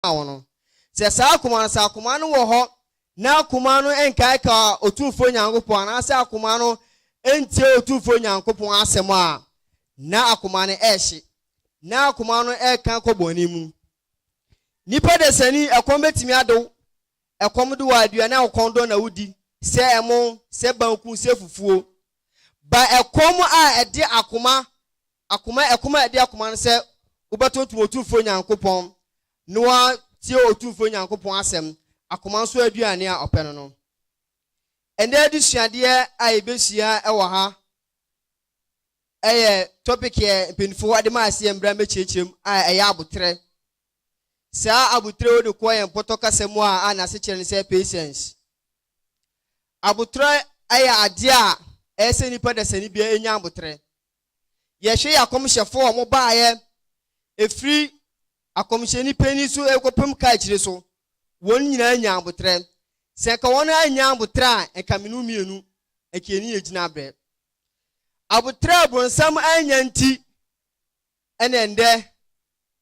maa wɔn no. Sɛ saa akoma no, sɛ akoma no wɔ hɔ na akoma no nkaekaw Otumfoɔ Nyankopɔn anaasɛ akoma no ntie Otumfoɔ Nyankopɔn asɛm a, na akoma no rehye. Ná akoma no reka kɔ bɔne mu. Nnipa dasani, ɛkɔm betumi ade wo. Ɛkɔm de wo a, aduane a ɔkɔm dɔ na wudi, sɛ ɛmo, sɛ banku, sɛ fufuo. Ba ɛkɔm a ɛde akoma Akoma, ɛkoma a ɛde akoma no sɛ wobɛtontom Otumfoɔ Nyankopɔn na woatie Otumfoɔ Nyankopɔn asɛm, akoma nso aduane a ɔpɛ no no. Ɛnnɛ adesuadeɛ a yɛbɛsua wɔ ha yɛ topic a mpanimfoɔ de maa sɛ yɛn mmra mmɛkyerɛkyerɛ mu a ɛyɛ aboterɛ. Saa aboterɛ wode kɔ yɛn pɔtɔ kasa mu a a n'asekyerɛ ne sɛ patience. Aboterɛ yɛ adeɛ a ɛyɛ sɛ nipa dasani bia ɛnya aboterɛ. Yɛhwɛ yɛ akɔmhyɛfo a wɔbaeɛ firi akɔmhyɛni panin so rekɔpem kaakyire so, wɔn nyinaa nyaa aboterɛ. Sɛ anka wɔn ara nnya aboterɛ a, anka me ne wo mmienu, anka yɛne yɛn gyina abrɛ. Aboterɛ a bronsam annya nti, ɛna ɛndɛ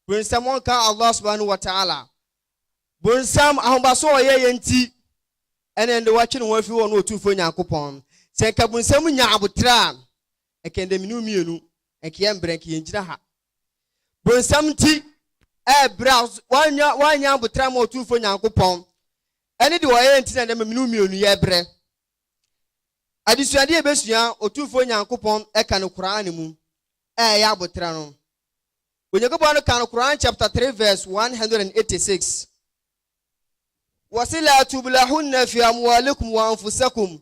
bronsam ɔnka Allah subhanahu wa ta'ala. Bronsam ahobaso a ɔyɛ yɛ nti, ɛna ɛndɛ watwe ne ho afiri hɔ ne Otumfoɔ Nyankopɔn. Sɛ anka bronsam nya aboterɛ a, ɛkɛn dɛ mene wo mmienu, nka yɛ mbrɛ, nka yɛn gyina ha. Bonsam nti ɛɛbrɛ a wannya wannya aboterɛ ama Otumfoɔ Nyankopɔn, ɛne deɛ ɔyɛɛ nti na ɛnɛ mene wo mmienu yɛɛbrɛ. Adesuadeɛ yɛbɛsua Otumfoɔ Nyankopɔn ɛka no Qur'aan mu a ɛyɛ aboterɛ no. Onyankopɔn no ka no Qur'aan chapter 3 verse 186. Wɔse la tubulahunna fi amwalikum wa anfusakum.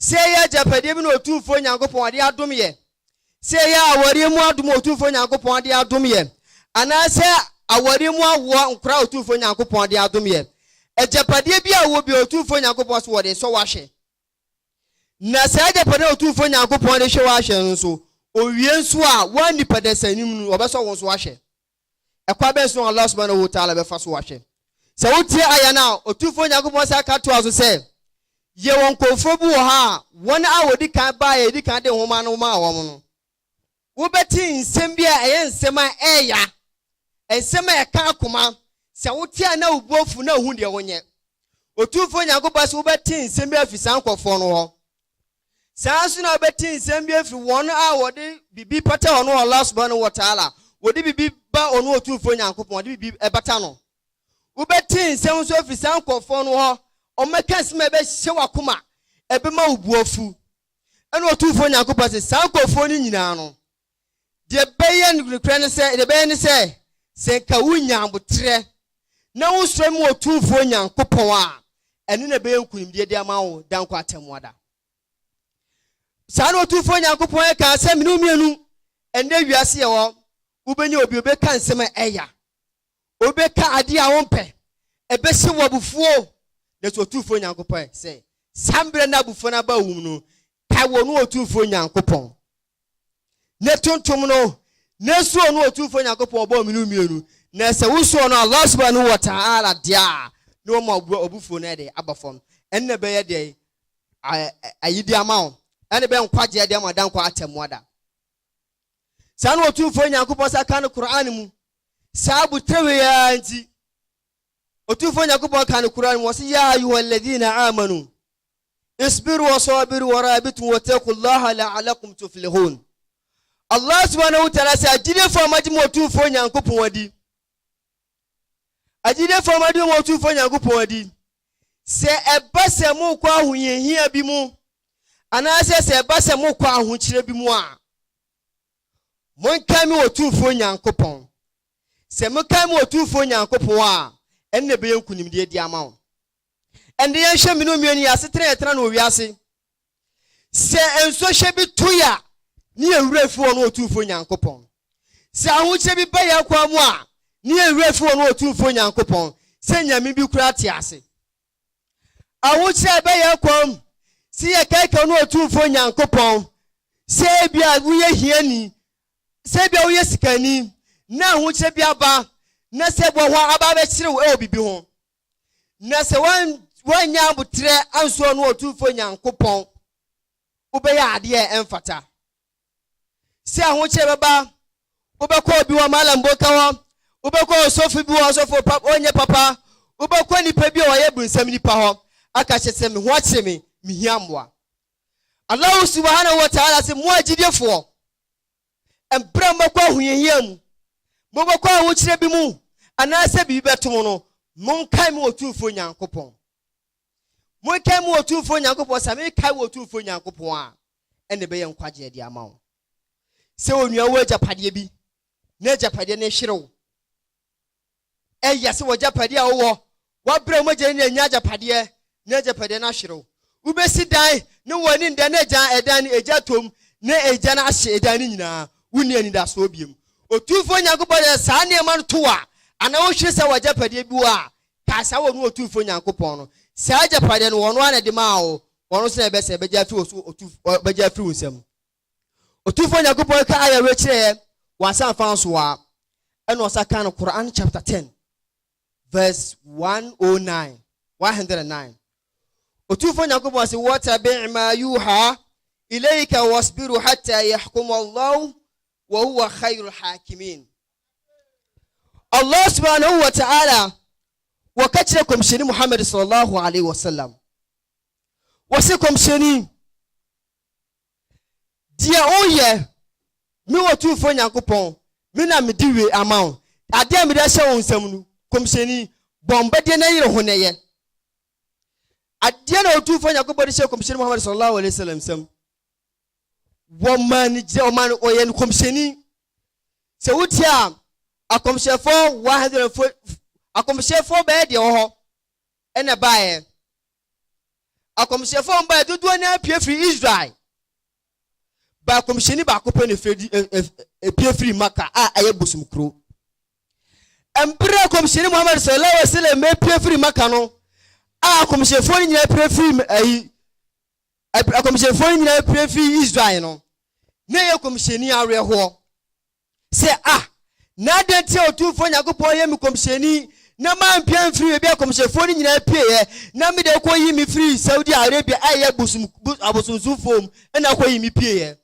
Sɛ ɛyɛ agyapadeɛ bi na Otumfoɔ Nyankopɔn ɔde adom yɛn, sɛ ɛyɛ awareɛ mu adom a Otumfoɔ Nyankopɔn ɔde adom yɛn, anaasɛ awareɛ mu awoɔ nkora a Otumfoɔ Nyankopɔn ɔde adom yɛn, agyapadeɛ bi a wowɔ biara Otumfoɔ Nyankopɔn se wɔde sɔ wo ahwɛ. Na saa agyapadeɛ a Otumfoɔ Nyankopɔn de hwɛ wo ahwɛ no nso, owie nso a, woanni pɛdɛsɛn no mu no, wɔbɛsɔ wo nso ahwɛ. Ɛkwan bɛn so na Allah Subhanahu wa Ta'ala bɛfa so ahwɛ sɛ wotie Aya no a? Otumfoɔ Nyankopɔn san ka toaa so sɛ, Yɛwɔ nkurɔfoɔ bi wɔ ha a wɔn a wɔdi kan baeɛ a Yɛdi kan de Nwoma no maa wɔn no, wobɛte nsɛm bi a ɛyɛ nsɛm a ɛyɛ ya, nsɛm a ɛka akoma, sɛ wote a na wo bo afu na wohu deɛ wonyɛ. Otumfoɔ Nyankopɔn se, Wobɛte nsɛm bi afi saa nkurɔfoɔ no hɔ. Saa ara nso na wobɛte nsɛm bi afiri wɔn a wɔde biribi pata wɔn wɔ Allah subhanahu wa ta'ala, wɔde biribi ba ɔno Otumfoɔ Nyankopɔn, wɔde biribi ɛbata no. Wobɛte nsɛm nso afiri saa nkurɔfoɔ no hɔ, wɔbɛka nsɛm a ɛbɛhyɛ w'akoma, ɛbɛma wo bo afu. Ɛna Otumfoɔ Nyankopɔn se, saa nkurɔfoɔ no nyinaa no, Deɛ ɛbɛyɛ nokorɛ ne sɛ, deɛ ɛbɛyɛ ne sɛ, sɛ nka wonya aboterɛ na wosɔre ma Otumfoɔ Nyankopɔn a, ɛno na ɛbɛyɛ nkonimdie de ama wo da nkwa atemmuada. Saa na Otumfoɔ Nyankopɔn ɛkaa sɛ mene mmienu ɛnɛ wiase yɛ hɔ, wobɛnya obi obɛka nsɛm a ɛya, obɛka adeɛ a wompɛ, ɛbɛhyɛ wo abufuo, nanso Otumfoɔ Nyankopɔn sɛ saa mmerɛ na abufuo no aba wom no, Pae wɔ no Otumfoɔ Nyankopɔn ne tontom no, na su ɔno Otumfoɔ Nyankopɔn ɔbɔɔ mmienu mmienu, na sɛ wo su ɔno Allah Subhanahu wa Ta'ala deɛ a, na wama wo abufuo no de aba fam, ɛno na ɛbɛyɛ deɛ ayidie ama wo, ɛna ɛbɛyɛ nkwagyeɛ deɛ ama dankwa atemmuada. Saa na Otumfoɔ Nyankopɔn sa ka no Qur'aan mu, saa abutrɛwee yi ara nti, Otumfoɔ Nyankopɔn ka no Qur'aan mu ɔse, Yaa ayuha alladhina aamanu, isbiru wa saabiru wa raabitum wa taqullaha la'alakum tuflihuun. Allah subhanahu wa ta'ala se, Agyidiefo a moagye mo Otumfoɔ Nyankopɔn adi, agyidiefo a moagye mo Otumfoɔ Nyankopɔn adi, sɛ ɛba sɛ mokɔ ahohiahia bi mu, anaasɛ sɛ ɛba sɛ mokɔ ahokyerɛ bi mu a, monkae me Otumfoɔ Nyankopɔn, Sɛ mokae mo Otumfoɔ Nyankopɔn a, ɛno na ɛbɛyɛ nkonimdie de ama wo. Ɛnde yɛnhwɛ me ne onua no yi asetena a yɛtena no wɔ wiase. Sɛ nsuohyɛ bi to yɛ a, ne yɛn werɛ fi ɔno Otumfoɔ Nyankopɔn. Sɛ ahokyerɛ bi ba yɛn kwan mu a, ne yɛn werɛ fi ɔno Otumfoɔ Nyankopɔn, sɛ nyame bi koraa te ase. Ahokyerɛ a ɛba yɛn kwan mu, sɛ yɛkaekae ɔno Otumfoɔ Nyankopɔn, sɛ ebia woyɛ hiani, Sɛ ebia woyɛ sikani na ahokyerɛ bi aba na sɛ boa hɔ aba abɛkyere wo wɔ biribi ho, na sɛ woannya aboterɛ anso ɔno Otumfoɔ Nyankopɔn, wobɛyɛ adeɛ a ɛmfata. Sɛ ahokyerɛ bɛba, wobɛkɔ obi wɔ Malam Boka hɔ, wobɛkɔ ɔsɔfo bi wɔ ɔsɔfo pa ɔnyɛ papa, wobɛkɔ nipa bi a ɔyɛ bunsam nipa hɔ aka kyerɛ sɛ me ho akyere me, mehia mmoa. Allahu Subahanahu Wata'ala se, Mo agyidifoɔ, ɛberɛ a mobɛkɔ ahohiahia mu, mobɛkɔ ahokyerɛ bi mu, anaasɛ biribi bɛto mo no, monkae me Otumfoɔ Nyankopɔn. Monkae me Otumfoɔ Nyankopɔn, sɛ mekae wɔ Otumfoɔ Nyankopɔn a, ɛnna ɛbɛyɛ nkwagyeɛ de ama wo. Sɛ onua wɔ agyapadeɛ bi, na agyapadeɛ no hwere wo, Ɛyɛ sɛ w'agyapadeɛ a wowɔ, w'abrɛ a mogya nyinaa nnya agyapadeɛ, na agyapadeɛ no ahwere wo. Wobɛsi dan, na w'ani nnda, na agya ɛdan no, egya atɔ mu, na egya no ahye ɛdan no nyinaa. Wonni anidasoɔ bio. Otumfoɔ Nyankopɔn de saa nneɛma no to wo a, anaa wohwere sɛ w'agyapadeɛ bi wɔ a, kae saa, wɔno Otumfoɔ Nyankopɔn no. Saa agyapadeɛ no, wɔno ara na ɛde maa wo, wɔno nso na ɛbɛsɛe, ɛbɛgya afiri wo so, ɔbɛgya afiri wo nsam. Otumfoɔ Nyankopɔn ka ayɛ wei kyerɛ yɛn wɔ Asaah fa no so a, ɛna ɔsa ka no Qur'aan chapter ten verse one o oh nine, one hundred and nine. Otumfoɔ Nyankopɔn se, Watabi' ma yuha ilayka wasbiru hatta yahkum Allahu wa huwa khairul hakimin. Allah subhanahu wa ta'ala wɔka kyerɛ kɔmhyɛni Muhammad sallallahu alaihi wasallam. Wɔse kɔmhyɛni Deɛ woyɛ, me Otumfoɔ Nyankopɔn, me na mede wie ama wo. Adeɛ a mede ahyɛ wo nsam no, Nkɔmhyɛni, bɔ mbɛdeɛ na yere ho na yɛ. Adeɛ na Otumfoɔ Nyankopɔn de hyɛɛ Nkɔmhyɛni Muhammad sallallahu alaihi wasallam nsam. Wɔmaa no gyina, wɔmaa no, wɔyɛ no Nkɔmhyɛni. Sɛ wotie a, akɔmhyɛfoɔ 100 fo, akɔmhyɛfoɔ bɛyɛ deɛ wɔ hɔ ɛna baeɛ. Akɔmhyɛfoɔ a wɔbaeɛ dodoɔ no ara pue firi Israel. Baa kɔmhyɛni baako pɛ na efiri epue firi Maka a ɛyɛ bosom kuro. Mberɛ kɔmhyɛni Muhammad sallallahu alaihi wasallam epue firi Maka no a akɔmhyɛfoɔ no nyinaa pue firi ayi akɔmhyɛfoɔ no nyinaa pue firi Israel no na ɛyɛ kɔmhyɛni awerɛhoɔ. Sɛ, Ah! Na adɛn nti a Otumfoɔ Nyankopɔn yɛ me kɔmhyɛni, na mampia amfiri baabi a kɔmhyɛfoɔ no nyinaa pieeɛ, na me deɛ ɔkɔyii me firii Saudi Arabia a ɛyɛ bosom, bos, abosomsomfoɔ mu na ɔkɔyii me pieeɛ?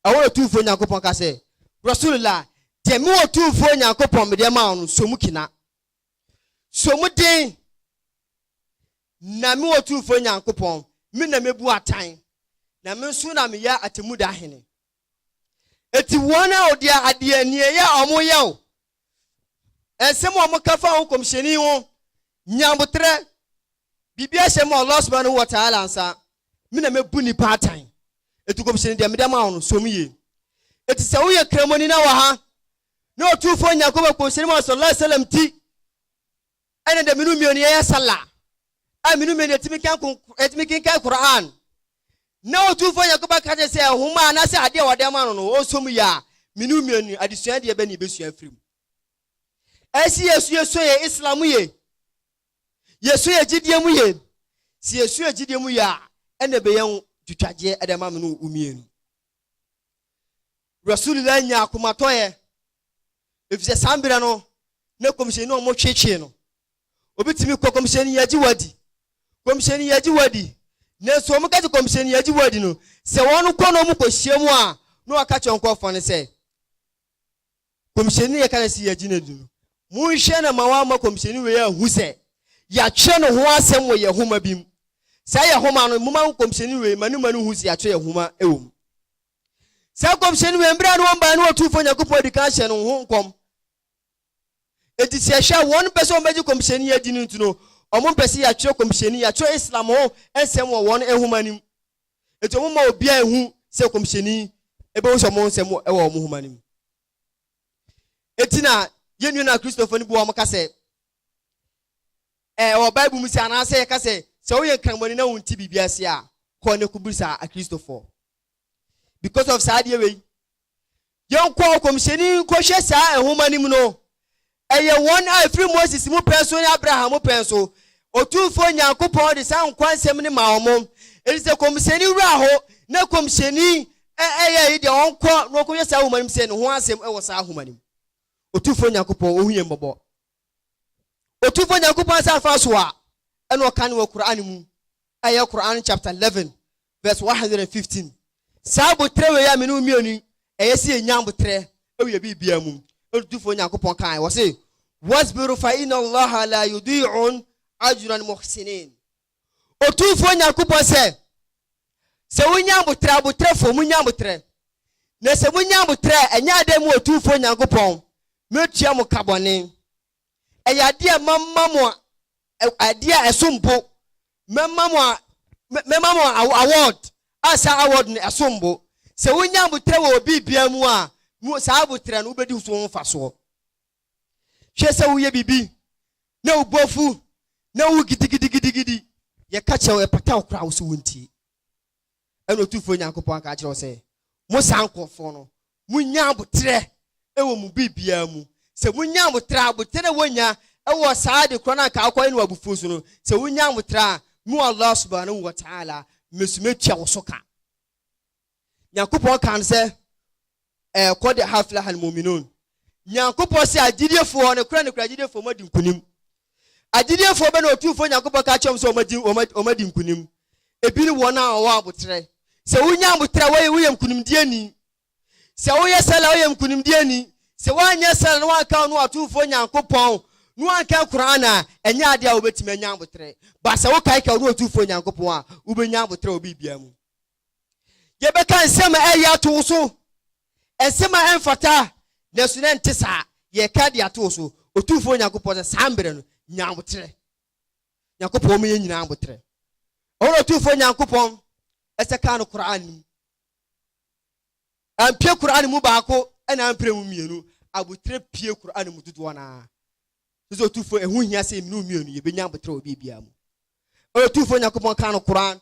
Ɛhɔ na Otumfoɔ Nyankopɔn ka sɛ, Rasulullah, deɛ me Otumfoɔ Nyankopɔn medeɛ maa wo no, sɔ mu kena. Sɔ mu den, na me Otumfoɔ Nyankopɔn, me na mebu atan, na me nso na meyɛ atemmuda hene. Enti wɔn a wɔde adeɛ nneɛyɛ a wɔyɛ o, nsɛm a wɔka fa ho kɔmhyɛni ho, nyabotrɛ, biribi ahyɛ mu a Allah subhanahu wa ta'ala nsa, me na mɛbu nnipa atan. Enti kɔmhyɛni deɛ mede ama wo no, som yie. Enti sɛ woyɛ kramoni na wɔ ha, na ɔtumfoɔ Nyankopɔn kɔmhyɛni Muhammad sallallahu alaihi wasallam ti, Ɛna dɛ menu mienu yɛyɛ sallah a menu mienu yɛtumi kan kon yɛtumi kenkan Qur'aan na Otumfoɔ Nyankopɔn ka kyerɛ sɛ nhoma anaasɛ adeɛ a wɔde ama no no ɔnsɔ mu yɛ a menu mienu no adesua deɛ bɛ na yɛbɛsua afiri mu? Ɛsi yɛ so yɛsua yɛ Islam mu ye yɛsua yɛ gyidie mu ye si yɛsua yɛ gyidie mu ye a ɛna ɛbɛyɛ ho twitwagyeɛ ɛde ama menu wo mienu Rasulillah nyaa akomatɔeɛ efisɛ saa mberɛ no na Kɔmhyɛni no wɔtweetwee no. Obi tumi kɔ Kɔmhyɛni yɛgye wo adi, Kɔmhyɛni yɛgye wo adi, nanso wɔn ka kyerɛ Kɔmhyɛni yɛgye wo adi no sɛ wɔn kɔ na wɔn kɔ hyia mu a na wɔka kyerɛ nkorɔfoɔ no sɛ Kɔmhyɛni na yɛka no sɛ yɛgye no adi no monhwɛ na ma wɔama Kɔmhyɛni wei ahu sɛ yɛatwerɛ ne ho asɛm wɔ yɛn homa bi mu saa yɛn homa no moma Kɔmhyɛni wei ma ne ma no hu sɛ yɛatwerɛ yɛn homa wɔ mu. Saa nkɔmhyɛni wei, mmerɛ a ne wɔn baeɛ no Ɔtumfoɔ Nyankopɔn adi kan hyɛɛ no ho nkɔm. Enti sɛ yɛhwɛ a, wɔn mpɛ sɛ wɔbɛgye nkɔmhyɛni adi no nti no, wɔn mpɛ sɛ yɛatwerɛ nkɔmhyɛni, yɛatwerɛ Islam ho nsɛm wɔ wɔn nwoma no mu. Enti wɔn mma obiara nhu sɛ nkɔmhyɛni bɛhu sɛ wɔn nsɛm wɔ wɔn nwoma no mu. Enti na yɛn nua na Kristofo no bi wɔn ka sɛ, ɛwɔ Bible mu sɛ anaasɛ yɛka sɛ sɛ woyɛ nkramɔni na wonti biribi ase a, kɔ ne kɔbisa Akristofoɔ. because of saa adeɛ wei yɛnkɔ ɔkɔmhyɛni nkɔhwɛ saa nwoma no mu no ɛyɛ wɔn a ɛfiri moses mu pɛn so ne abraham mu pɛn so ɔtumfoɔ nyankopɔn de saa nkwa nsɛm no ma wɔn ɛti sɛ kɔmhyɛni wura hɔ na kɔmhyɛni ɛyɛ yi deɛ ɔnkɔ na ɔkɔhwɛ saa nwoma no mu sɛ ne ho asɛm ɛwɔ saa nwoma no mu ɔtumfoɔ nyankopɔn ɔhu yɛn mmɔbɔ ɔtumfoɔ nyankopɔn asɛ afa so a ɛna ɔka ne wɔ koran mu ɛyɛ koran chapter 11 Verse one hundred and fifteen, Saa aboterɛ wei a me ne wo mmienu yi, ɛyɛ sɛ yɛnya aboterɛ wɔ yɛn biribiara mu. Ɛnna Otumfoɔ Nyankopɔn kae, ɔse, Wasbiru fa inna Allaha laa yudii'u ajra al-muhsinin. Otumfoɔ Nyankopɔn sɛ, Sɛ wonya aboterɛ, aboterɛfoɔ, monya aboterɛ. Na sɛ monya aboterɛ a, ɛnyɛ adeɛ mu Otumfoɔ Nyankopɔn, mɛtua mo ka bɔne. Ɛyɛ adeɛ a mɛma mo adeɛ a ɛsom bo. Mɛma mo mɛma mo award a saa award no ɛsom bo. Sɛ wonya aboterɛ wɔ biribiara mu a, mo saa aboterɛ no wobɛdi so ho mfasoɔ. Hwɛ sɛ woyɛ biribi na wo bo afu na wo gidigidigidigidi, yɛka kyerɛ wo ɛpata wo koraa wo so wontie. ɛna Otumfoɔ Nyankopɔn aka akyerɛ wo sɛ, Mo saa nkorɔfoɔ no, monnya aboterɛ wɔ mo biribiara mu. Sɛ monya aboterɛ a, aboterɛ na wɔnya wɔ saa ade korɔ no a anka wokɔyɛ no wɔ abufuo so no, sɛ wonya aboterɛ a, me Allah subhaanahu wa ta'aala, me nso mɛtua wo so ka. Nyankopɔn kaa no sɛ, ɛɛ kɔde haflaha no mu'minun. Nyankopɔn se agyidiefoɔ, nokorɛ nokorɛ agyidiefoɔ moadi nkunim. Agyidiefoɔ bɛ na Otumfoɔ Nyankopɔn ka akyerɛ wɔn sɛ wɔadi, wɔadi, wɔadi nkunim? Ebi ne wɔn a wɔwɔ aboterɛ. Sɛ wonya aboterɛ a, wɔyɛ, woyɛ nkunimdieni. Sɛ woyɛ sɛla a, woyɛ nkunimdieni. Sɛ woanyɛ sɛla na woanka ɔno Otumfoɔ Nyankopɔn, na woankan Qur'aan a, ɛnyɛ adeɛ a wobetumi anya aboterɛ. But sɛ wokae ka ɔno Otumfoɔ Nyankopɔn a, wobenya aboterɛ wɔ biribiara mu. Yɛbɛka nsɛm a ɛyɛ ato wo so, nsɛm a ɛmfata, nanso na ɛnte saa. Yɛreka de ato wo so, Otumfoɔ Nyankopɔn, sɛ saa mmerɛ no, nya aboterɛ. Nyankopɔn ma yɛn nyinaa aboterɛ. Ɛhɔ na Otumfoɔ Nyankopɔn ɛsɛ kaa no Qur'an no mu. Ampie Qur'an mu baako ɛna ampire mu mmienu. Aboterɛ pie Qur'an mu dodoɔ no ara. Sɛ Otumfoɔ ɛho hia sɛ mmienu mmienu yɛbɛnya aboterɛ wɔ biribiara mu. Ɛhɔ na Otumfoɔ Nyankopɔn kaa no Qur'an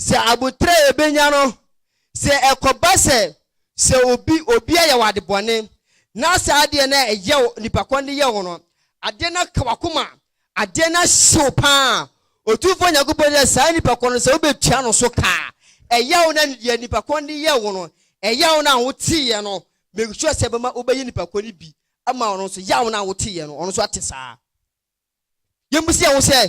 Sɛ aboterɛ a yɛbɛnya no, sɛ ɛkɔba sɛ sɛ obi obi ayɛ wo ade bɔne, na saa adeɛ no a ɛyɛ wo, nipa kɔn de yɛ wo no, adeɛ no aka w'akoma, adeɛ no ahye wo pa ara, Otumfoɔ Nyankopɔn sɛ saa nipa kɔn no sɛ wobɛtua no so ka a, ɛyaw no a deɛ nipa kɔn de yɛ wo no, ɛyaw no a woteeɛ no, make sure sɛ ɛbɛma wobɛyɛ nipa kɔn no bi ama ɔno nso, yaw no a woteeɛ no, ɔno nso ate saa. Yɛmmisa wo sɛ,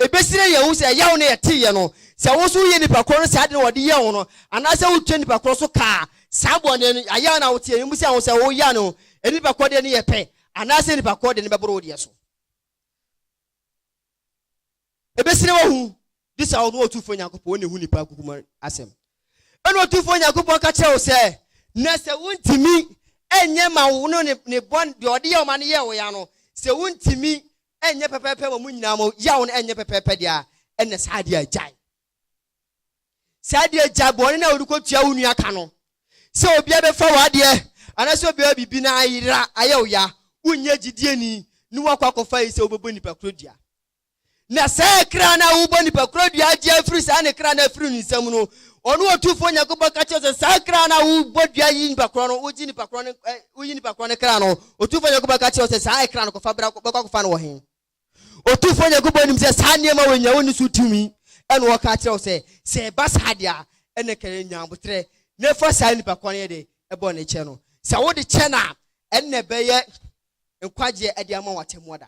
ɛbɛsira yɛn ho sɛ ɛyaw no a ɛteeɛ no, sɛ wo nso woyɛ nnipa korɔ no saa ade no a wɔde yɛɛ wo no, anaasɛ wotwa nnipa korɔ so kaa saa bɔne no, yayaw no a woteeɛ no, yɛmmisa wo sɛ wo yaw no, ɛne nnipa korɔ deɛ no yɛ pɛ, anaasɛ nnipa korɔ deɛ no bɛboro wo deɛ so. Ebesere w'ahu de sa wo no Otumfoɔ Nyankopɔn, wo na ehu nnipa nkokum asɛm. Ɛnna Otumfoɔ Nyankopɔn ka kyerɛ wo sɛ, Na sɛ wuntumi nyɛ ma wo no ne ne bɔne, deɛ ɔde yɛ wo ma no yɛɛ wo ya no, sɛ wuntumi nyɛ pɛpɛɛpɛ ma mo nyinaa mo yaw no nyɛ pɛpɛɛpɛ deɛ a, ɛnna saa adeɛ a gyae. Saa adeɛ gyae bɔne no a wode kɔtua wo nua ka no, sɛ obiara bɛfa w'adeɛ anaasɛ obiara biribi na ayera ayɛ wo ya, wonyɛ gyidieni na woakɔ akɔfa yi sɛ wobɛbɔ nnipa koro dua. Na saa kra no a wobɔ nipa koro dua agye afiri saa ne kra no afiri ne nsam no, ɔno Otumfoɔ Nyankopɔn ka kyerɛ sɛ, saa kra no a wobɔ dua yi nipa korɔ no, wogye nipa korɔ no, ɛ, woyi nipa korɔ no kra no, Otumfoɔ Nyankopɔn ka kyerɛ wo sɛ, saa ɛkra no kɔfa bra, bɛkɔ akɔfa no wɔ he? Otumfoɔ Nyankopɔn nim sɛ saa nneɛma wei nyinaa wonni so tumi, ɛna ɔka kyerɛ wo sɛ, sɛ ɛba saa deɛ a, ɛne ka yɛ nya aboterɛ, na fa saa nipa korɔ no yɛ de, ɛbɔ ne kyɛ no. Sɛ wode kyɛ no a, ɛnna ɛbɛyɛ nkwagyeɛ de ama wo atɛmmuada.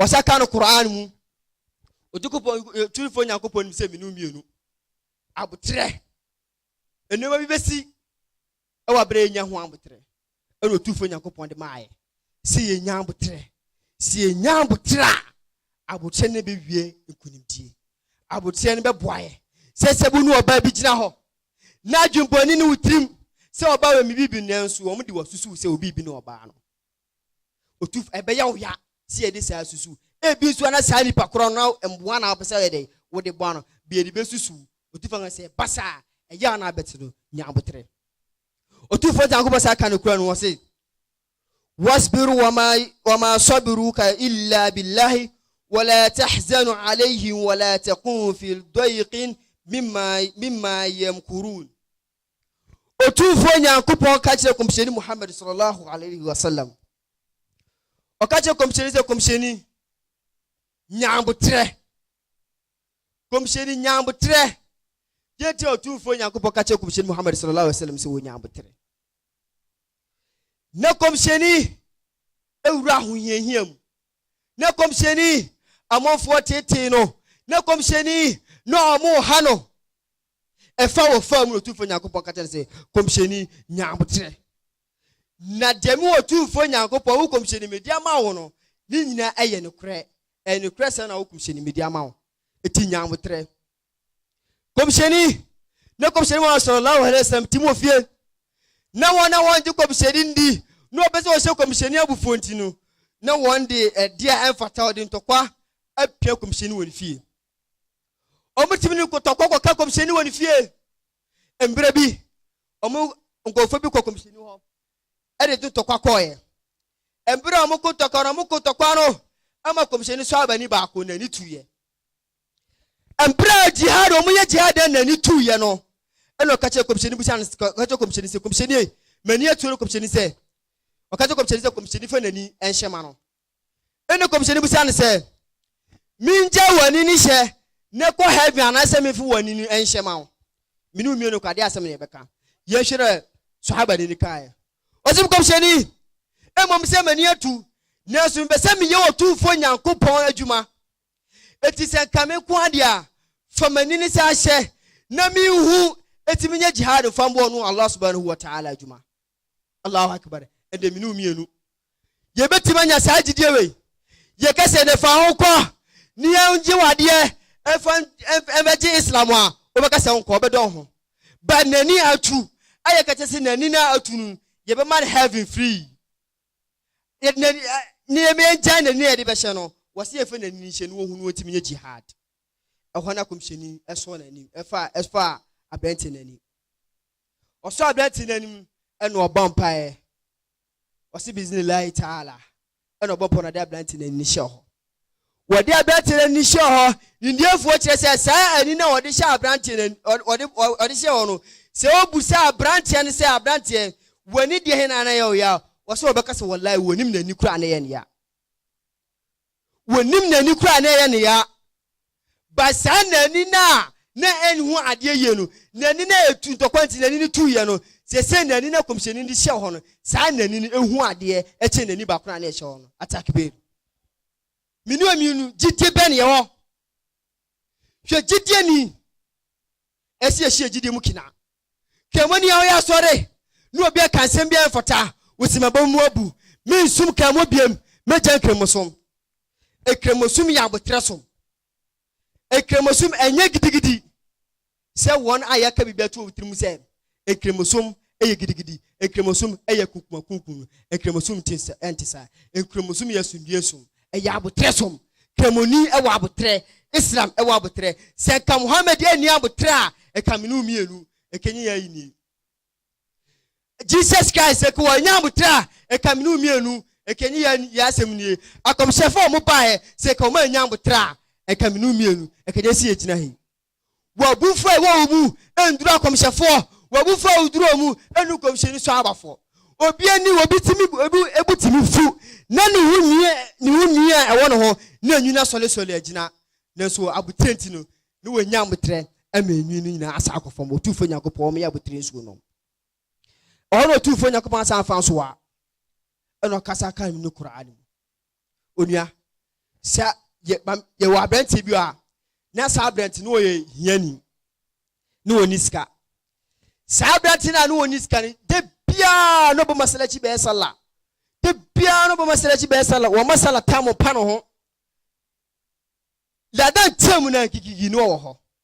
Ɔsɛ ka no Qur'aan mu. Otukupɔn, Otumfoɔ Nyankopɔn nim sɛ mmienu mmienu, aboterɛ, nneɛma bi bɛsi ɛwɔ abere a yɛnya ho aboterɛ. Ɛna Otumfoɔ Nyankopɔn de maayɛ. Sɛ yɛnya aboterɛ, sɛ yɛnya aboterɛ a, aboterɛ no bɛwie nkonimdie. Aboterɛ no bɛboa yɛ. Sɛ sɛ bu ne ɔbaa bi gyina hɔ, na adwembɔne ne wo tirim sɛ ɔbaa wɔ me bibi nanso wɔn de wasusuw sɛ obi bi ne ɔbaa no. Otumfo, ɛbɛyɛ wo ya sɛ yɛde saa susuw. Ebia nso na saa nipa korɔ no na mmoa na wopɛ sɛ woyɛ dɛn? Wode boa no. Bia yɛde bɛsusuw Otumfo Nyankopɔn sɛ ɛba saa a, ɛyɛ a na abɛte no, nya aboterɛ. Otumfo Nyankopɔn san ka no Qur'aan mu hɔ se, Wasbiru wama wama sabiruka illa billahi wala tahzanu alayhim wala takun fi dayqin mimma mimma yamkurun. Otumfoɔ Nyankopɔn ka kyerɛɛ Kɔmhyɛni Muhammad sallallahu alaihi wa sallam, ɔka kyerɛɛ Kɔmhyɛni sɛ, Kɔmhyɛni, nya aboterɛ. Kɔmhyɛni, nya aboterɛ. Deɛ nti a Otumfoɔ Nyankopɔn ka kyerɛɛ Kɔmhyɛni Muhammad sallallahu alaihi wa sallam sɛ wɔnya aboterɛ. Na Kɔmhyɛni awura ahohiahia mu. Na Kɔmhyɛni amanfoɔ tetee no. Na Kɔmhyɛni na wɔn ha no. Ɛfa wɔ faa mu na Otumfoɔ Nyankopɔn ka kyerɛɛ no sɛ, Kɔmhyɛni, nya aboterɛ. Na deɛ me Otumfoɔ Nyankopɔn, wo kɔmhyɛni, mede ama wo no, ne nyinaa yɛ nokorɛ. Ɛyɛ nokorɛ sɛ na wo kɔmhyɛni, mede ama wo. Enti nya aboterɛ. Kɔmhyɛni, na kɔmhyɛni Muhammad sallallahu alaihi wasallam te mu fie. Na wɔn a wɔngye kɔmhyɛni ndi, na wɔpɛ sɛ wɔhyɛ kɔmhyɛni abufuo nti no, na wɔn de ɛdeɛ a ɛmfata, wɔde ntɔkwa apia kɔmhyɛni wɔ ne fie. wɔtumi de nkotɔkɔ kɔka kɔmhyɛni wɔ ne fie. Mmerɛ bi, wɔn nkurɔfoɔ bi kɔ kɔmhyɛni hɔ de de ntɔkwa kɔɔɛ. Mmerɛ a wɔn ko ntɔkwa no, wɔn ko ntɔkwa no ama kɔmhyɛni sɔhabani baako n'ani tuiɛ. Mmerɛ a jihad, wɔn yɛ jihad dɛ n'ani tuiɛ no, ɛna ɔka kyerɛ kɔmhyɛni bisa no, ɔka kyerɛ kɔmhyɛni sɛ, kɔmhyɛni, m'ani atuo no kɔmhyɛni sɛ, ɔka kyerɛ kɔmhyɛni sɛ kɔmhyɛni fa n'ani nhyɛ ma no. Ɛnna kɔmhyɛni bisaa no sɛ, Mingyae w'anini hyɛ na kɔ heaven anaasɛ memfa w'anini nhyɛ ma wo? Me ne wo mmienu kɔ, adeɛ asɛm na yɛbɛka. Yɛnhwɛ dɛ Sahaba ni no kaeɛ. Ɔse me kɔmhyɛni, mmom sɛ m'ani atu, nanso mepɛ sɛ meyɛ Otumfoɔ Nyankopɔn adwuma. Enti sɛ nka me nko ara deɛ a, fa m'anini san hyɛ na menhu, enti menyɛ jihad mfa mmɔ ɔno Allah Subhanahu wa Ta'ala adwuma. Allahu Akbar, ɛnde me ne wo mmienu yɛbɛtumi anya saa gyidie wei. Yɛka sɛ ne fa ho kɔ ne yɛngye wadeɛ ɛfa ɛbɛgye Islam a, wobɛka sɛ nkɔ ɔbɛdɔ ho. But n'ani atu a yɛka kyɛ sɛ n'ani no atu no, yɛbɛma no heaven free. Yɛde n'ani ne yɛmɛngya n'ani a yɛde bɛhyɛ no, wɔsɛ yɛmfa n'ani no nhyɛ no wɔhu no wɔntumi nyɛ jihad. Ɛhɔ na kɔmhyɛni ɛsɔɔ n'ani ɛfa ɛfa aberɛnte n'ani. Ɔsɔ aberanteɛ no anim na ɔbɔ mpaeɛ. Ɔse Biznillahi Taala na ɔbɔ mpaeɛ na ɔde aberanteɛ no ani hyɛ hɔ. Wɔde aberanteɛ no ani hyɛ hɔ, nimdiefoɔ kyerɛ sɛ saa ani no a wɔde hyɛ aberanteɛ no, wɔde, wɔde hyɛ hɔ no, sɛ wɔbusa aberanteɛ no sɛ aberanteɛ, w'ani deɛ he na na yɛ wo ya a, ɔse wɔbɛka sɛ wallahi wɔnim n'ani koraa na yɛ no ya. wɔnnim n'ani koraa a na ɛyɛ no ya. Ba saa na ani no a na ɛnhu adeɛ yie no, n'ani no a ɛtu ntɔkwa nti n'ani no tuiɛ no, seesei n'ani no a Kɔmhyɛni no de hyɛ hɔ no, saa n'ani no ɛhu adeɛ kyɛn n'ani baako no a na ɛhyɛ hɔ no. Atakbir! Me ne ɔmmienu, gyidie bɛn na yɛwɔ? Hwɛ gyidieni ɛsi ɛhyɛ gyidie mu kina. Kɛmoni a ɔyɛ asɔre ne obi ɛka nsɛm bi a ɛmfata wosi mɛbɔ mu abu me nsum kɛmo biem mɛgya nkramosom. Ekramosom yɛ abotrɛ som. Ekramosom ɛnyɛ gidigidi. sɛ wɔn a yɛaka biribi ato wɔn tirim sɛ Nkramosom yɛ gidigidi, Nkramosom yɛ kunkumakunkun no, Nkramosom nte sa, ɛnte saa. Nkramosom yɛ asomdwoe som, ɛyɛ aboterɛ som. Kramoni wɔ aboterɛ, Islam wɔ aboterɛ. Sɛ nka Muhammad anni aboterɛ a, nka me ne wo mmienu nkenye yɛn ayi nie. Jesus Christ nka wɔannya aboterɛ a, nka me ne wo mmienu nkenye yɛn yɛn asɛm nie. Akɔmhyɛfo a wɔbaeɛ, sɛ nka wɔannya aboterɛ a, nka me ne wo mmienu nkenye si yɛgyina ha yi. W'abufuo a ɛwɔ wo mu nduru akɔmhyɛfoɔ, w'abufuo a oduru wɔn mu nnu nkɔmhyɛni soabafoɔ. Obi ani wɔ obi timi, obi bo timi fu, na ne ho nwi ne ho nwi a ɛwɔ ne ho na enwini asɔlesɔle agyina, nanso wɔ abotire nti no, na wanya aboterɛ ama enwi no nyinaa asan akɔ fam. Otumfoɔ Nyankopɔn, wɔn yɛ aboterɛ nsuo nom. Ɛhɔ na Otumfoɔ Nyankopɔn asan afa nso a ɛna ɔkasa kaa no Qur'aan mu. Onua, sɛ yɛ, ma, yɛwɔ aberanteɛ bi hɔ a, na saa aberante no ɔyɛ hiani, na ɔnni sika. Saa aberante no a na ɔnni sika no, da biara na ɔbɛma salakyi bɛyɛ sala. Da biara na ɔbɛma salakyi bɛyɛ sala. Wɔma sala tam pa no ho. Ladan team na gigigi na ɔwɔ hɔ.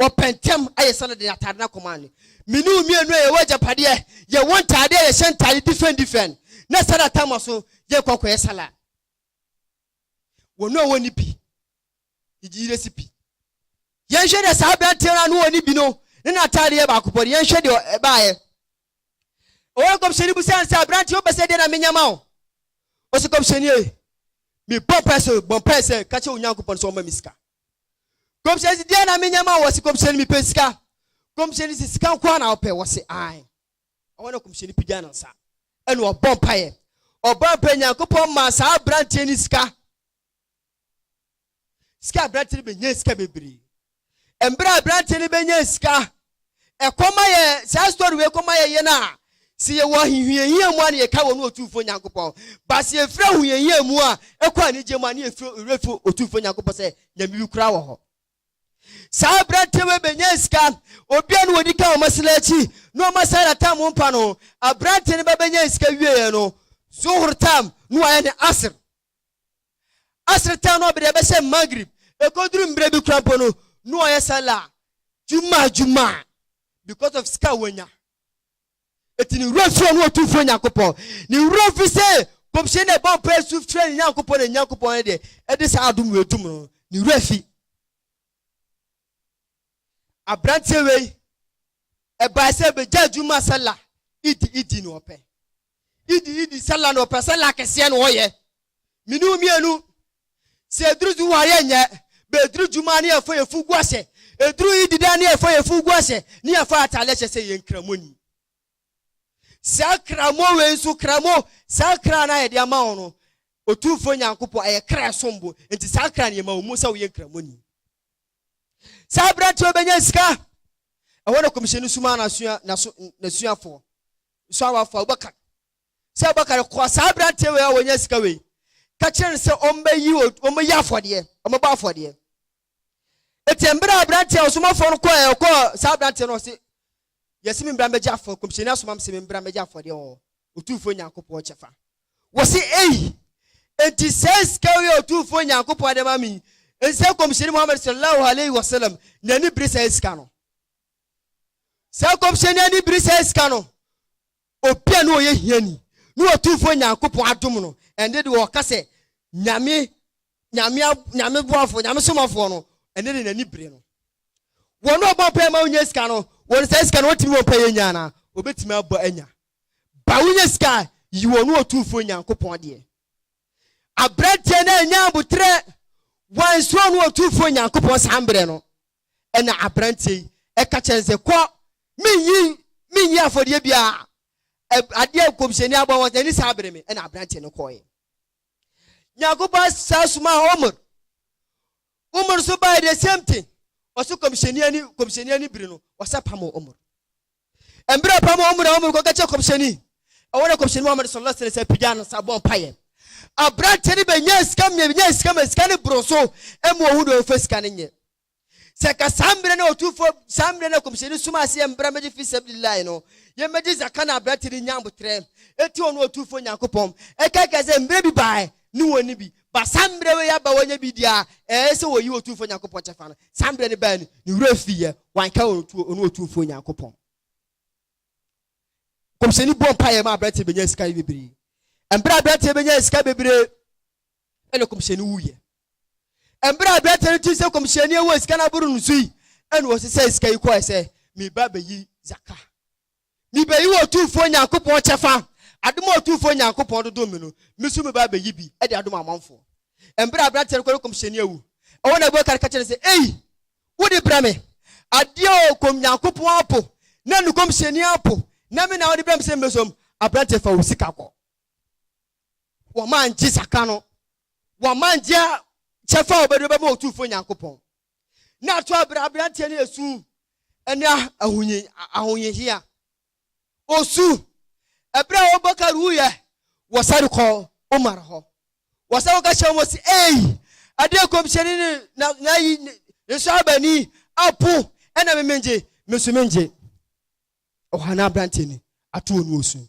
wɔpɛ ntɛm ayɛ sɛnea wɔde atade no akɔma no. Me ne wo mmienu a yɛwɔ agyapadeɛ, yɛwɔ ntadeɛ a yɛhyɛ ntadeɛ different different, na saa da tam so yɛrekɔ akɔyɛ salad. Wɔn a wɔnni bi, yɛgye recipe. Yɛnhwɛ deɛ saa aberanteɛ no a no ɔnni bi no ne n'atadeɛ yɛ baako pɔ no, yɛnhwɛ deɛ ɛbaeɛ. Ɔwɔ nkɔmhyɛni bu sɛ ansa aberanteɛ wopɛ sɛ deɛ na menya ma wo. Ɔsɛ kɔmhyɛni e, mebɔ mpae sɛ bɔ mpae sɛ ka kyɛ Onyankopɔn sɛ ɔma me sika. Kɔmhyɛni se, Deɛn na menyɛ ma wo? Wɔse, Kɔmhyɛni, mepɛ sika. Kɔmhyɛni se, Sika nko ara na wopɛ? Wɔse, Aane. Ɛhɔ na Kɔmhyɛni pagya ne nsa, ɛna ɔbɔ mpaeɛ. Ɔbɔ mpaeɛ, Nyankopɔn maa saa aberanteɛ no sika. Sika aberanteɛ no bɛnyaa sika bebree. Mberɛ a aberanteɛ no bɛnyaa sika ɛkɔm ayɛ saa story wei kɔm ayɛ yɛn a sɛ yɛwɔ ahohiahia mu a na yɛka wɔ ne ɔtumfoɔ nyankopɔn ba sɛ yɛfiri ahohiahia mu a ɛkɔ anigye mu a ne yɛfiri werɛ fi ɔtumfoɔ nyankopɔn sɛ nyame bi koraa wɔ hɔ saa aberanteɛ wei bɛnya sika obia no wɔdi ka ɔma sena akyi na ɔma saa na tam mpa no aberanteɛ no bɛbɛnya sika wieɛ no zuhur tam na wayɛ ne asr Asr tan no ɔbere a ɛbɛhyɛ Maghrib, ɛkɔduru mmerɛ bi koraa mpo no, na ɔyɛ Salah Jum'ah Jum'ah because of sika a wanya. Enti ne werɛ firi ɔno Otumfoɔ Nyankopɔn. Ne werɛ firi sɛ Nkɔmhyɛni no ɛbɔ mpaeɛ su frɛ ne Nyankopɔn na ne Nyankopɔn no deɛ ɛde saa adom wei dom no, ne werɛ fi. Aberanteɛ wei, ɛbae sɛ bɛgyaa adwuma sɛ la idi idi na ɔpɛ. Idi idi sɛ la na ɔpɛ sɛ la kɛseɛ na ɔyɛ. Mene wo mmienu, sɛ ɛduru du ware a nyɛ, bɛ ɛduru adwuma a ne yɛfa yɛ fugu ahyɛ, ɛduru idi da a ne yɛfa yɛ fugu ahyɛ, ne yɛfa atadeɛ hyɛ sɛ yɛn kramoni. Saa kramo wei nso, kramo, saa kra no a yɛde ama wo no, Otumfoɔ Nyankopɔn, ɛyɛ kra ɛsom bo, nti saa kra no yɛma wo mu sɛ woyɛ nkramoni. Saa aberanteɛ yi bɛnya sika. Ɛhɔ na kɔmhyɛni somaa n'asuafoɔ nso a wɔafa Abubakar sɛ Abubakar kɔɔ saa aberanteɛ wei a wɔnya sika wei ka kyerɛ no sɛ ɔmbɛyi ɔmbɛyɛ afɔdeɛ ɔmbɛbɔ afɔdeɛ. Eti mmerɛ a aberanteɛ a ɔsomafoɔ no kɔɔ ɛkɔɔ saa aberanteɛ no ɔse Yɛse membra mbɛgye afɔ Nkɔmhyɛni asoma me se membra mbɛgye afɔdeɛ wɔ Otumfoɔ Nyankopɔn kyɛfa. Wɔse, Ei! Enti saa sika wei a Otumfoɔ Nyankopɔn de ama me yi, ensɛ Nkɔmhyɛni Muhammad Sallallahu Alaihi Wasallam n'ani bere saa sika no? Saa Nkɔmhyɛni ani bere saa sika no? Obi a na ɔyɛ hiani ne Otumfoɔ Nyankopɔn adom no, ɛnde deɛ ɔka sɛ Nyame, Nyame, Nyame boafoɔ, Nyame somafoɔ no, ɛnde ne n'ani bere no. Wɔn a wɔbɔ mpaeɛ ma wɔnya sika no, wɔn saa sika no wɔtumi bɔ mpaeɛ nya anaa? Wɔbɛtumi abɔ anya. Ba wonya sika a, yi wɔn ne Otumfoɔ Nyankopɔn deɛ. Aberanteɛ no annya aboterɛ, wansuro ne Otumfoɔ Nyankopɔn saa mberɛ no. Ɛnna aberanteɛ yi ka kyerɛɛ no sɛ, Kɔ! Mennyi mennyi afɔdeɛ biara. Ɛ, adeɛ a nkɔmhyɛni abɔ ho asɛm, ɛnni saa bere me. Ɛnna aberanteɛ no kɔeɛ. Nyankopɔn saa somaa Umar. Umar nso baeɛ the same thing. Ɔso kɔmhyɛni ani kɔmhyɛni ani biri no, ɔsa pamoo Umar. Mbrɛ ɔpam hɔn mu na hɔn mu no kɔka kyerɛɛ kɔmhyɛnyi, ɔwɔ dɛ kɔmhyɛnyi Muhammad sɔlɔ lɔh sene sɛ pegyaa no nsa bɔ mpaeɛ. Aberanteɛ no bɛnyaa sika mmea bɛnyaa sika ma sika no boroo so ɛma ɔhu deɛ ɔmfa sika no nyɛ. Sɛ nka saa mmerɛ no ɔtumfoɔ saa mmerɛ no kɔmhyɛni somaa sɛ yɛmbra mmɛgye fi sabilillahi no yɛmmɛgye zaka na aberanteɛ no nya aboterɛ ɛti ɔno ɔtumfoɔ Nyankopɔn ɛkae kae sɛ mmerɛ bi baeɛ ne wɔn no bi ba saa mmerɛ wei aba wɔanya bi deɛ a, ɛɛ sɛ wɔyi Otumfoɔ Nyankopɔn kyɛfa no. Saa mmerɛ no baɛ no, ne werɛ fiiɛ, wanka wɔn ntuo, ɔno Otumfoɔ Nyankopɔn. Nkɔmhyɛni bɔɔ mpaeɛ ma aberanteɛ bɛnyaa sika yi bebree. Mberɛ a aberanteɛ bɛnyaa sika bebree, ɛna nkɔmhyɛni wuiɛ. Mberɛ a aberanteɛ no tee sɛ nkɔmhyɛni awu a sika no aboro no so yi, ɛna ɔsesae sika yi kɔɔɛ sɛ, meba bɛyi zaka. Mibeyi w'Otumfoɔ Nyankopɔn kyɛfa, adom a Otumfoɔ Nyankopɔn de dom me no, me nso meba abeyi bi de adom amanfoɔ. Mberɛ a aberanteɛ no kɔree kɔmhyɛni awu wɔ n'abua kar ka kyerɛɛ no sɛ, Ei! Wode brɛ me adeɛ o, kɔm Nyankopɔn apo na ne kɔmhyɛni apo, na me na wode brɛ me sɛ mesom, aberanteɛ fa wo sika kɔ. Wama angye zaka no, wama angye kyɛfa a obɛde bɛma Otumfoɔ Nyankopɔn. na ato abira aberanteɛ no yɛ su ne ahohiahia. Osu ɛberɛ a Abubakar wuyɛ wɔ sare kɔ Umar hɔ. Wɔsɛ wɔka kyerɛ wɔn sɛ, ei, adeɛ nkɔmhyɛni ne na na yi ne nsɔhabani apo ɛna memengye, me nso mengye. Ɔhanaa aberanteɛ no ato wɔn osu.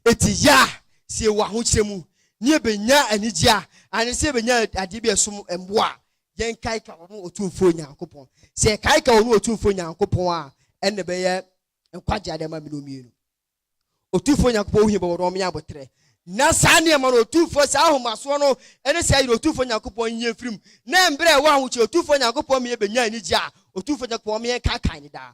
Enti yɛ a sɛ yɛwɔ ahokyerɛ mu ne yɛbɛnya anigyeɛ a, anaasɛ sɛ yɛbɛnya adeɛ bi a ɛsom bo a, yɛnkaeka ɔno Otumfoɔ Nyankopɔn. Sɛ yɛkaeka ɔno Otumfoɔ Nyankopɔn a, ɛnna ɛbɛyɛ nkwagyeɛ adeɛ ama me ne mmienu. Otumfoɔ Nyankopɔn wo he bɛwɔ no ɔme aboterɛ. Na saa nneɛma no, Otumfoɔ, saa ahomasoɔ no ne saa yere Otumfoɔ Nyankopɔn nyi yɛn mfirim, na mberɛ a yɛwɔ ahokyerɛ Otumfoɔ Nyankopɔn ma yɛbɛnya anigyeɛ a, Otumfoɔ Nyankopɔn ɔme yɛnkaekae ne daa.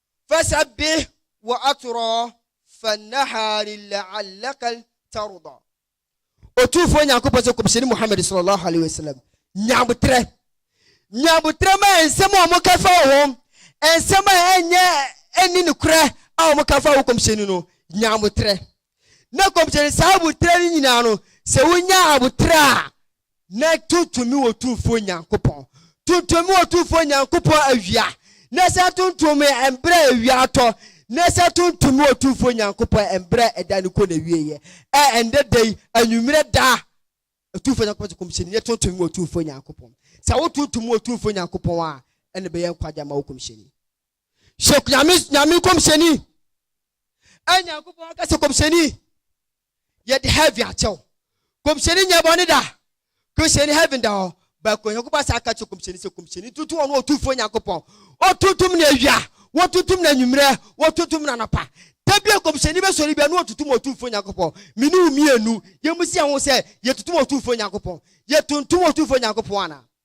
Fasabih wa atorɔɔ fa nahari la'alakal tarɔdɔ. Otumfoɔ Nyankopɔn sɛ Kɔmhyɛni Muhammad sɔlɔlɔhu alaihi wasalam, nya aboterɛ, nya aboterɛ ma nsɛm a wɔka fa wo ho, nsɛm a ɛnyɛ ɛnni nokorɛ a wɔka fa wo Kɔmhyɛni no, nya aboterɛ. na kɔmhyɛni saa aboterɛ no nyinaa no sɛ wonya aboterɛ a na tontom me wɔ tumfoɔ nyankopɔn tontom me wɔ tumfoɔ nyankopɔn awia na sɛ tontom me mbrɛ awia atɔ na sɛ tontom me wɔ tumfoɔ nyankopɔn mbrɛ ɛda no kɔ na wieɛ ɛ ɛndɛ da yi anwummerɛ da tumfoɔ nyankopɔn sɛ kɔmhyɛni na tontom me wɔ tumfoɔ nyankopɔn sɛ wotontom me wɔ tumfoɔ nyankopɔn a ɛna bɛyɛ nkwagya ma wo kɔmhyɛni Hyɛ Nyame Nyame kɔmhyɛni. Ɛ Nyankopɔn aka sɛ kɔmhyɛni yɛde heaven akyɛw. Kɔmhyɛni nyɛ bɔne da. Kɔmhyɛni heaven da hɔ. Baako Nyankopɔn asa aka kyerɛ kɔmhyɛni sɛ kɔmhyɛni tutu ɔno ɔtumfoɔ Nyankopɔn. Wɔtutum no awia, wɔtutum no anwummerɛ, wɔtutum no anɔpa. Da bi a kɔmhyɛni bɛsɔre bia no ɔtutum ɔtumfoɔ Nyankopɔn. Me ne wo mmienu, yɛn mu si yɛn ho sɛ yɛtutum ɔtumfoɔ Nyankopɔn. Yɛtuntum ɔtumfoɔ Nyankopɔn anaa?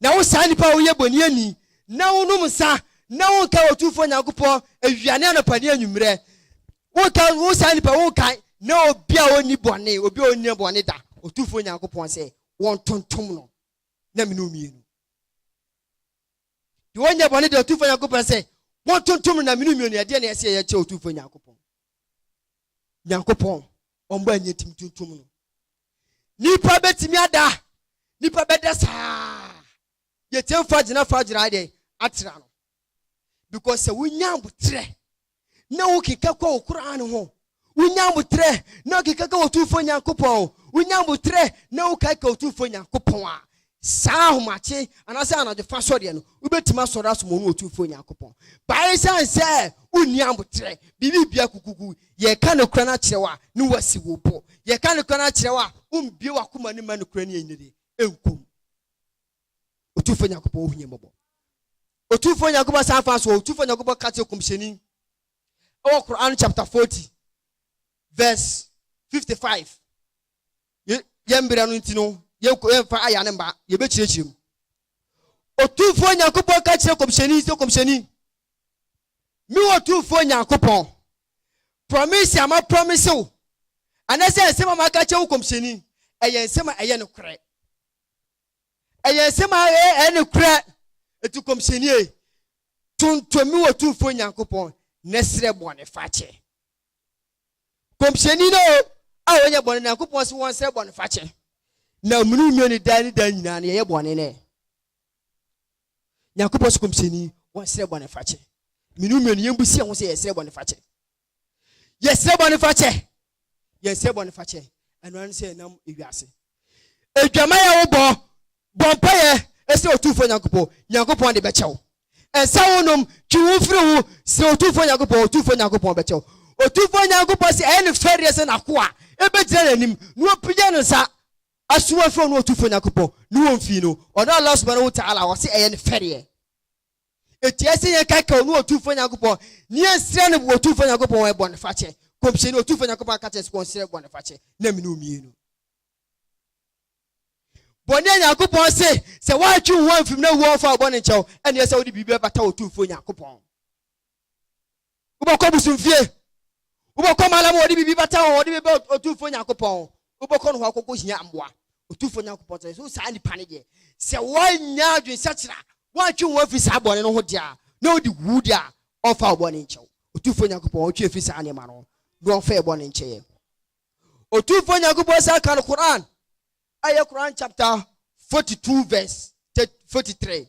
Na wo saa nipa a woyɛ boniani, na wonom nsa, na wonkae Otumfoɔ Nyankopɔn awia ne anɔpa ne anwummerɛ, wonkae wo saa nipa, wonkae, na obi a onni bɔne, obi a onnyɛ bɔne da, Otumfoɔ Nyankopɔn sɛ wɔntontom no, na mene omienu. Deɛ ɔnyɛ bɔne da, Otumfoɔ Nyankopɔn sɛ wɔntontom no, na mene omienu, ɛdeɛ na ɛsɛ yɛyɛ kyɛ Otumfoɔ Nyankopɔn? nyankopɔn ɔmbɔ anyɛ tim tuntum no nipa bɛtumi ada nipa bɛda saa yɛtumi fa gyina fa gyina deɛ atera no because sɛ wonya aboterɛ na wokeka kɔ wo koraa no ho wonya aboterɛ na wokeka ka wɔtumfoɔ nyankopɔn wonya aboterɛ na wokae ka wɔtumfoɔ nyankopɔn a Saa ahomakye anaasɛ anadwofa sɔreɛ no, wobɛtumi asɔre asom Ɔno Otumfoɔ Nyankopɔn. But esiane sɛ wonni aboterɛ, biribi bia kukuku, yɛreka nokorɛ no akyerɛ wo a, ne woasi wo bo. Yɛreka nokorɛ no akyerɛ wo a, wombue w'akoma no mma nokorɛ no ɛnyini ɛnku mu. Otumfoɔ Nyankopɔn ɔhu yɛn mmɔbɔ. Otumfoɔ Nyankopɔn san fa so, Otumfoɔ Nyankopɔn ka kyerɛ Kɔmhyɛni ɛwɔ Qur'an chapter 40 verse 55. Ye, yɛn mberɛ no nti no, yɛnko, yɛnfa aya no mma, yɛbɛkyerɛkyerɛ mu. Otumfoɔ Nyankopɔn ka kyerɛ Kɔmhyɛni sɛ, Kɔmhyɛni, Me Otumfoɔ Nyankopɔn, prɔmese a maprɔmese wo, anasɛ nsɛm a maka akyerɛ wo Kɔmhyɛni, ɛyɛ nsɛm a ɛyɛ nokorɛ. Ɛyɛ nsɛm a ɛyɛ, ɛyɛ nokorɛ. Enti Kɔmhyɛnie, tontom me Otumfoɔ Nyankopɔn, na srɛ bɔnefakyɛ. Kɔmhyɛni no o, a wɔnyɛ bɔne no, Nyankopɔn se wɔnsrɛ bɔnefakyɛ, na mmunu nnua no daa ne daa nyinaa no, yɛyɛ bɔne no ɛ. Nyankopɔn se kɔmhyɛni, wɔnsrɛ bɔnefakyɛ. Me ne mmienu, yɛmbu si yɛn ho sɛ yɛsrɛ bɔnefakyɛ. Yɛsrɛ bɔnefakyɛ! Yɛnsrɛ bɔnefakyɛ. Ɛno ano sɛ ɛnam ewiase. Adwaman a wobɔ, bɔ mpaeɛ srɛ Otumfoɔ Nyankopɔn, Nyankopɔn de bɛkyɛ wo. Nsa a wonom, twe wo ho firi ho, srɛ Otumfoɔ Nyankopɔn, Otumfoɔ Nyankopɔn bɛkyɛ wo. Otumfoɔ Nyankopɔn se ɛyɛ ne fɛreɛ sɛ n'akoa bɛgyina n'anim na wapagya ne nsa asoma afiri ɔno Otumfoɔ Nyankopɔn ne wɔn fii no, ɔno Allah Subahanahu Wataala, ɔse ɛyɛ ne fɛreɛ. Ɛtia sɛ yɛn kaka ɔno Otumfoɔ Nyankopɔn ne yɛn nsrɛ no Otumfoɔ Nyankopɔn wɔn bɔnefakyɛ. Nkɔmhyɛni, Otumfoɔ Nyankopɔn aka kyerɛ sɛ wɔnsrɛ bɔnefakyɛ na mene omienu. Bɔne a Nyankopɔn se sɛ woantwe wo ho amfim na wuwu a wɔmfa wo bɔne nkyɛ wo, ɛneɛ sɛ wode biribi bɛbata Otumfoɔ Nyankopɔn. Wobɛkɔ bosomfie. Wobɛkɔ malam a wɔde biribi bata hɔ, wɔde bɛbɛ Otumfoɔ Nyankopɔn. Wobɛkɔ no hɔ akɔkɔhia mmoa. Otumfoɔ Nyankopɔn sɛ, so saa nnipa no deɛ, sɛ wɔannya adwensakyera, wɔantwe wɔn afiri saa bɔne no ho deɛ a, na wɔde wu deɛ a, ɔmfa wo bɔne nkyɛ wo. Otumfoɔ Nyankopɔn ɔtwe afiri saa nneɛma no ho, na ɔmfa yɛ bɔne nkyɛ yɛn. Otumfoɔ Nyankopɔn san ka no Qur'aan, ɛyɛ Qur'aan chapter 42 verse 43.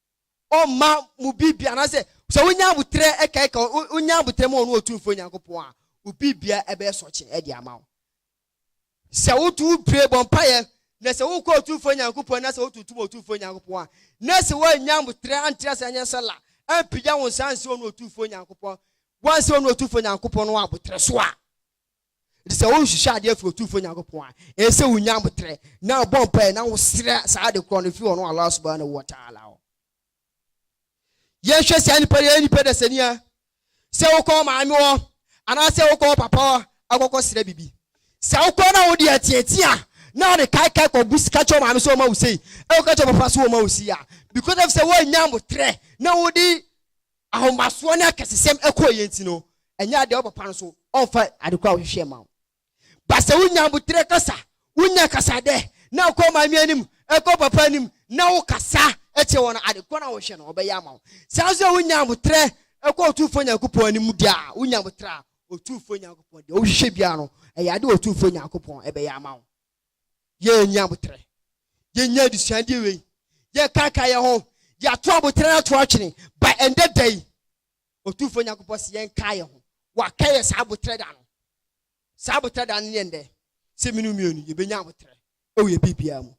ɔmma mo biribia anaasɛ sɛ wonya aboterɛ ɛkaeka wonya aboterɛ ma ɔno ɔtumfoɔ Nyankopɔn a wo biribia ɛbɛyɛ sɔkye ɛde ama wo sɛ woto wo bire bɔ mpaeɛ na sɛ wokɔ ɔtumfoɔ Nyankopɔn na sɛ wotuntum ɔtumfoɔ Nyankopɔn a na sɛ woannya aboterɛ antra sɛ anyɛ sala ampagya wo nsa ansi ɔno ɔtumfoɔ Nyankopɔn wansi ɔno ɔtumfoɔ Nyankopɔn no aboterɛ so a Enti sɛ worehwehwɛ ade afi Otumfoɔ Nyankopɔn a, ɛsɛ sɛ wunya aboterɛ, na wobɔ mpaeɛ, na wosrɛ saa ade korɔ no firi ɔno Allah Subhaanahu wa Ta'aala hɔ. Yɛnhwɛ saa nipa no, ɛyɛ nipa dasani a, sɛ wokɔ wo maame hɔ, anaasɛ wokɔ wo papa hɔ akɔkɔ srɛ biribi, sɛ wokɔ na wode ateatea, na wode kaekae kɔgu ka kyerɛ wo maame sɛ ɔma wo sei, ɛkɔka kyerɛ wo papa sɛ ɔma wo sei a, because of sɛ woannya aboterɛ na wode ahomasoɔ ne akɛsesɛm kɔeɛ nti no, ɛnyɛ adeɛ a wo papa nso ɔmfa ade korɔ a wohwehwɛɛ mma wo. Ba sɛ wonya aboterɛ kasa, wonya kasadɛ na kɔ maame anim, kɔ papa anim na wokasa kyerɛ wɔn a, ade korɔ no a wohwehwɛ no wɔbɛyɛ ama wo. Saa ara nso sɛ wonya aboterɛ kɔ Otumfoɔ Nyankopɔn anim deɛ a, wonya aboterɛ a, Otumfoɔ Nyankopɔn deɛ wohwehwɛ biara no, ɛyɛ adeɛ a Otumfoɔ Nyankopɔn bɛyɛ ama wo. yɛannya aboterɛ. Yɛnnya adesuadeɛ wei, yɛkaakae yɛn ho, yɛato aboterɛ no ato atwene, ba ɛndɛ da yi, Otumfoɔ Nyankopɔn se yɛnkae yɛn ho, Waka yɛn saa aboterɛ da no. Saa aboterɛ da no ne ɛndɛ, sɛ mene wo mmienu, yɛbɛnya aboterɛ wɔ yɛn biribiara mu.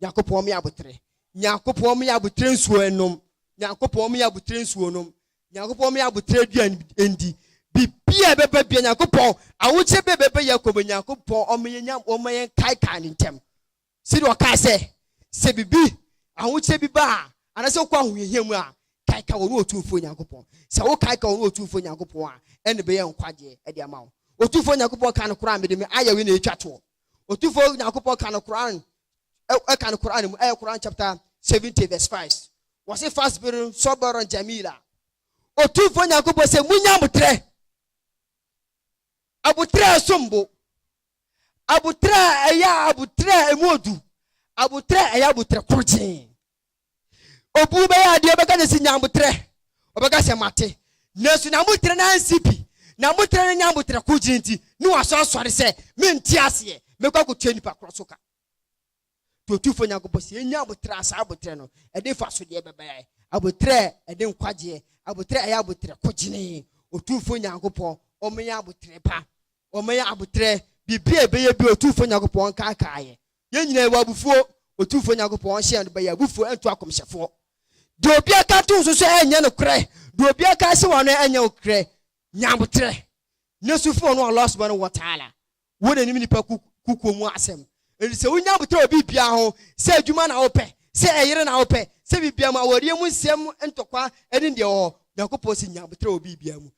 Nyankopɔn me aboterɛ Nyankopɔn me aboterɛ nsuo nnom Nyankopɔn me aboterɛ nsuo nom Nyankopɔn me aboterɛ aduane ndi Biribiara ɛbɛba biara Nyankopɔn Ahokyerɛ bɛɛ bɛba yɛ kɔm Nyankopɔn ɔma yɛ nya ɔma yɛ nkaekae ne ntɛm Sɛdeɛ ɔkaa sɛ sɛ biribi ahokyerɛ bi ba a anaasɛ wokɔ ahohiahia mu a kaekae ɔno Otumfoɔ Nyankopɔn Sɛ wo kaekae ɔno Otumfoɔ Nyankopɔn a ɛnna ɛbɛyɛ nkwagyeɛ de ama wo Otumfoɔ Nyankopɔn kaa no koraa mede me ayɛwee na ɛtwa toɔ Otumfoɔ Nyankopɔn ka no Qur'aan ɛka no Qur'aan mu ɛyɛ Qur'aan chapter seventy verse five wɔse fasbir sɔbɔrɔn jamila Otumfoɔ Nyankopɔn sɛ munya abotrɛ abotrɛ a ɛsom bo abotrɛ a ɛyɛ abotrɛ a ɛmu odu abotrɛ a ɛyɛ abotrɛ korogyen Obu bɛyɛ adeɛ ɔbɛka no si nyamboterɛ ɔbɛka sɛ mate nanso nyamboterɛ no ansi pi nyamboterɛ no nyamboterɛ ko gyina nti ne waso asɔre sɛ mente aseɛ mɛkɔ akɔtua nnipa korɔ so ka to tufo nyankopɔ sɛ ɛnya aboterɛ asa aboterɛ no ɛde fa so deɛ bɛbɛyɛ aboterɛ ɛde nkwagyeɛ aboterɛ ɛyɛ aboterɛ ko gyene ɔtumfo nyankopɔ ɔmɛyɛ aboterɛ pa ɔmɛyɛ aboterɛ biribi a ɛbɛyɛ bi ɔtumfo nyankopɔ ɔnkaakaayɛ Yɛn nyinaa yɛwɔ abufuo. Otumfoɔ Nyankopɔn ɔnhyɛ yɛn bɔ yɛ abufuo ɛnto akɔmhyɛfoɔ. Deɛ obiara ka to nso so ɛnyɛ nokorɛ, deɛ obiara ka hyɛ wano ɛnyɛ nokorɛ. Nya aboterɛ na su frɛ Ɔno Allah Subhanahu wa Ta'ala wɔ N'anim nnipa kukuo mu asɛm. Enti sɛ wonya aboterɛ wɔ biribiara ho, sɛ adwuma na wopɛ, sɛ ɛyere na wopɛ, sɛ biribiara mu, awareɛ mu nsɛm ntɔkwa ɛne deɛ ɛwɔ hɔ, Nyankopɔn se, Nya aboterɛ wɔ biribiara mu.